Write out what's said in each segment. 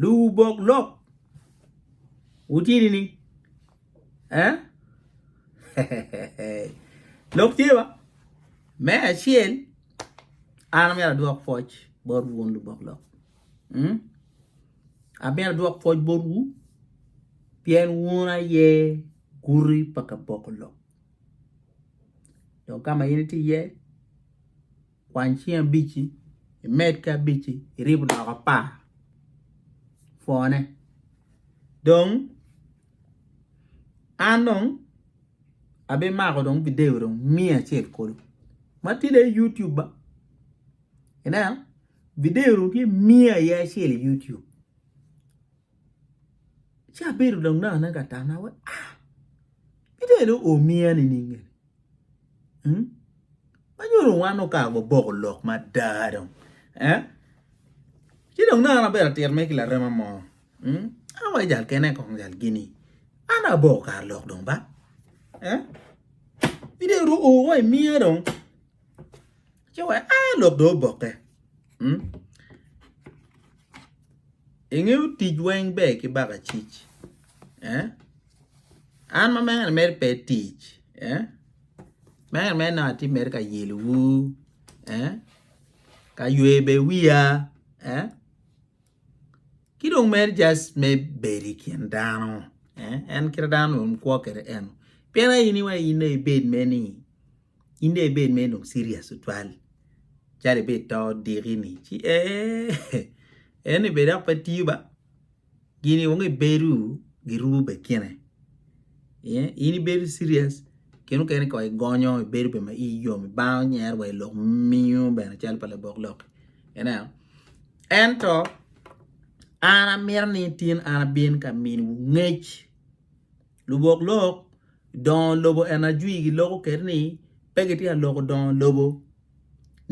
Luwubok lok wutini ni eh lok tye ba me acel an amyero adwok pwoc bot wun lubok lok mm? amyero adwok pwoc bot wu pien wun aye guti pa kaboko lok dong ka ma in iti iye kwany cing abic-ci, imed ki abic-ci, iribo doko apar pwone. Dong an dong abimako dong bideyo dong miya acel kulu ma tye dong i yutub ba, ineno bideyo dong tye miya aye acel i yutub. Ci abedo lanana ka tana wa ah kidong omia nining eni mm ma nyuto wan okato wa boko lok mada dong eh ci dong nongo an abedo atir mere ki larema mo mm an wa ki jal kene kong jal gini an dong aboko kar lok dong ba eh kidong dong oo wa imia dong. Ci wek a lok dong obokke. Ingeyo tic weng ber ki baka cic. An ma mere mere pe tic. Mere mere nongo atye mere ka yelowu. Ka ywe bene wiya. Ki dong mere just me bedo i kin dano. En kit dano dong kwo kede en. Pien aye in iwaco in dong ibed mere ni. in dong ibed mere dong serious tutwal calo ibed to odiki ni ci eeh en ni bene dok pe tiyo ba gini weng ibedo girumo bekine in ibedo serious kine mukene kong igonyo ibedo bene ma iyi yom ibanga onyero wa ilok mingo bene calo pa labok lok ineno ento an amito ni tin an abin ka miniwu ngec Lubok lok dongo lobo en ajwi giloko kit ni pe gitye ka loko dongo lobo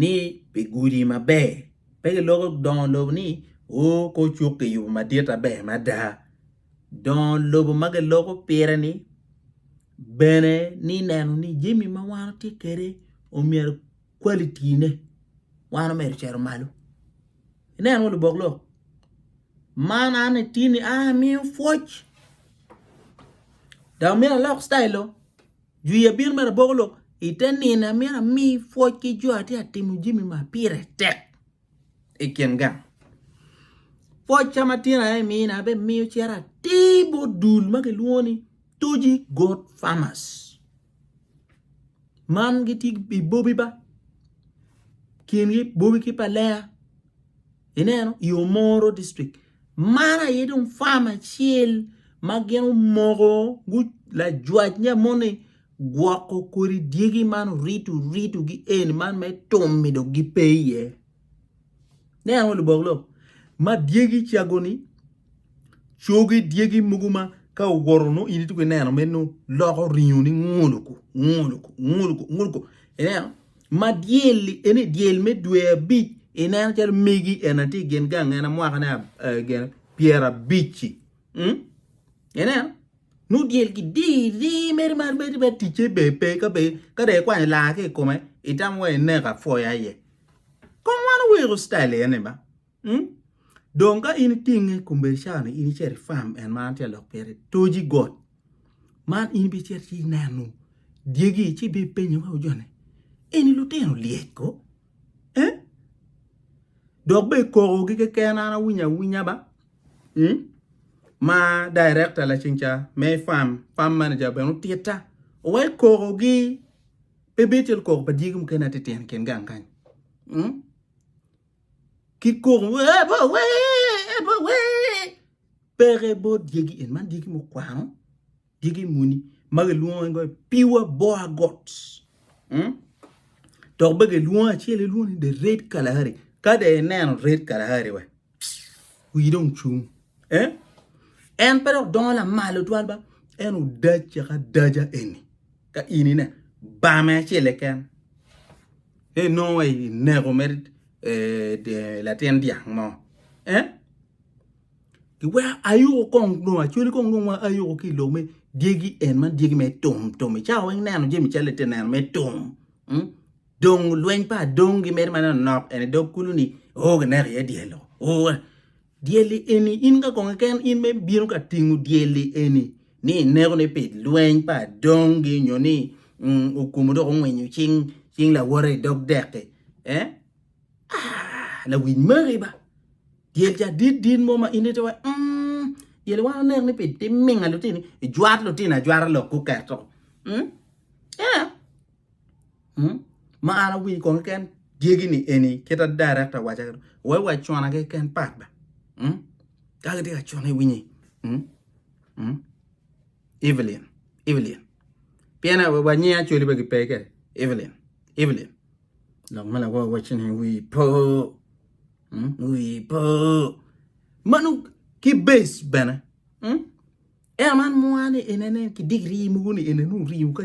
ni pi gudi maber pe giloko dongo lobo ni o kor cuk kiyubo madit aber mada dongo lobo ma giloko pire-ni bene ni neno ni jami ma wan watye kwede myero kwalitine wan omedo ocito malo inen wa lubok lok. Man an ni tin ni aa amiyo pwoc dok myero alok citayil lok jwi abino mere aboko lok i te nino amyero ami pwoc ki jo atye ka timo jami ma pire tek i kin gang pwoc ka ma tyeni aye imina abimiyo cito atir bot dul ma kilwongo ni Toji goat farmers man gitye i bobi ba kingi bobi ki pa lenga. Ineno, i Omoro district, man aye dong farm acel ma gin omoko lajwac nya moni gwoko kodi dyegi man orito rito gi en man me tumi dong gipe iye. Ineno lubok lok ma dyegi cago ni cogi dyegi mogo ma ka owoto no in ituko ineno meno loko ringo ni nguluku nguluku nguluku nguluku ineno ma dyelli eni dyel me dwe abic ineno calo megi en atye gen gang en mwaka ne gen pyera abici mm? ineno nu dyel ki di di meri mar meri be ticce be pe ka be ka de ikwanyo laa ki i kome itam wa ineka foya iye kom wan oweko style ene ba Dong ka in itinge kombeddi cawa-ni, in icito i fam en ma an atye ka lok pire, toji got man in ibicito ci ineno dyegi ci ibipenyo weko jo ni, 'Eni lutino lyec ko? Dok bene kokogi keken an awinyo awinya ba, ma dayirekta lacen ca me fam, fam manager, bene otitta wek kokogi pe bed calo koko pa dyegi mukene atitino i kin gang kany. ki kok ebawe ebawe peke bot dyegi en man dyegi mukwano dyegi muni ma gilwongo en goyo piwa boa got mm? dok be gilwongo acel ilwongo ni the red kalahari ka de ineno red kalahari we wi dong cung eh? en pe dok dongo lamal otwal ba en odac caka daja eni ka in ine bame acel eken Ni nongo wa i neko me latin dyang mo. Eh? Iweko ayuko kong nongo acwali kong nongo ma ayuko ki lok me dyegi en man dyegi me tum tum. Icawa weng neno jemi calo ite neno me tum. Hmm? Dong lweny pa dong gi mere manok nok en dog kulu ni o oh, gineko iye dyelo. Oh, Dyelli eni in ka kong keken in me bino ka tingo dyelli eni ni ineko ni pi lweny pa adongi nyo ni okumu dok ongwinyo cing cing lawote i dog deki eh ah lawic magi ba dyel ca dit dit mo ma in ite wa mm dyelli wan oneko ni pi timinga lutini ijwat lutini ajwata lok guketo mm yeah ma an awinyo kong keken dyegi ni eni kit ma director owaco kene we wa cona keken part ba ka gitye ka cone iwinyi Evelyn Evelyn pien wa nying Acholi pe gipe kede Evelyn Evelyn lok ma lawa waco ni wi po wi po mano ki base bene. Ento man mwa ni en ene ki dig rii mogo ni ene nung ringo ka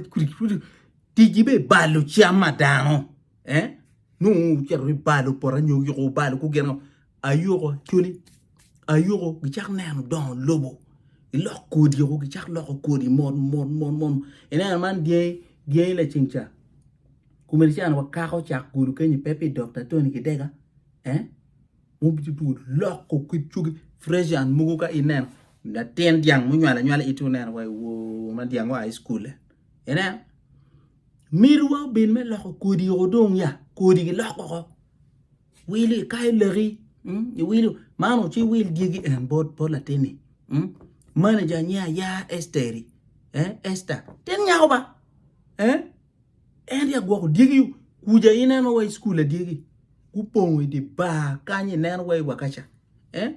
tigi be balo cam ma dano eh nung ocito i balo poto nyo yuko balo ku gin ayuko cuni ayuko gicak neno dongo lobo ilok kodi o gicak loko kodi mot mot mot mot ineno man dyangi dyangi laceng ca kume ni cani wakako cak gulu kenyi pe pi dokta tony gidega eh Mubiti pud loko kit cogi fresian mogo ka ineno latin dyang munywalo anywala iti oneno wa iwoo ma dyang oa i cukule ineno mitwa obin me loko kodi oko dong ya kodi giloko oko wili ikayo laki iwilo man ci iwil dyegi en bot bot latinni manager nge aya Esteri Ester tin nyako ba. En ri agwoko dyegi kuja ineno wa i cukul adyegi gupongo idi bar kany ineno wa i wakaca eh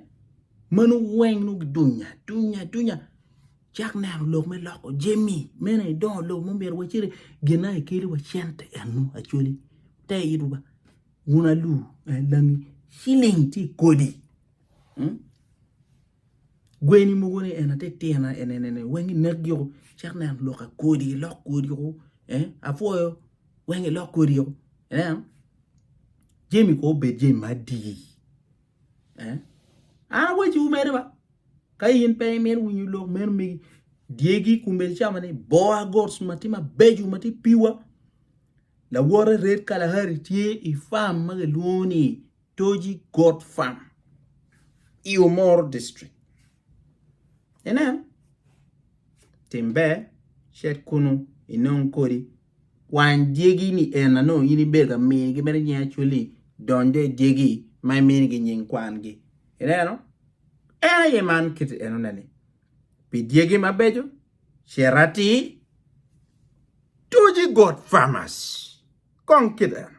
mano weng nongo gidunya dunya dunya cak neno lok me loko jemi mene idongo lok mo myero waciti gin na ikeli wa cente eno acwali te itwa ba wun alu langi ciling tye kodi. Gweni mogo ni en aye titino enene weng inek gi oo cek nen lok a kodi ilok kodi oo apwoyo weng ilok kodi oo ineno jami kono obed jami ma adi an awaci wu mere ba ka in pe imito winyo lok meno megi dyegi kombeddi cama ni boa goats matye mabeco matye pure lawote red kalahari tye i farm ma kilwongo ni Toji Goat Farm i Omoro District. Inen, tim ber, cit kunnu inong kodi kwany dyegi niena nongo in ibedo ka migi mere nying Acholi donyo i dyegi ma iminigi nying kwangi. Ineno? En aye man kit enoneni. Pi dyegi mabeco, cit atir, Toji Goat Farmers. Kong kit eno.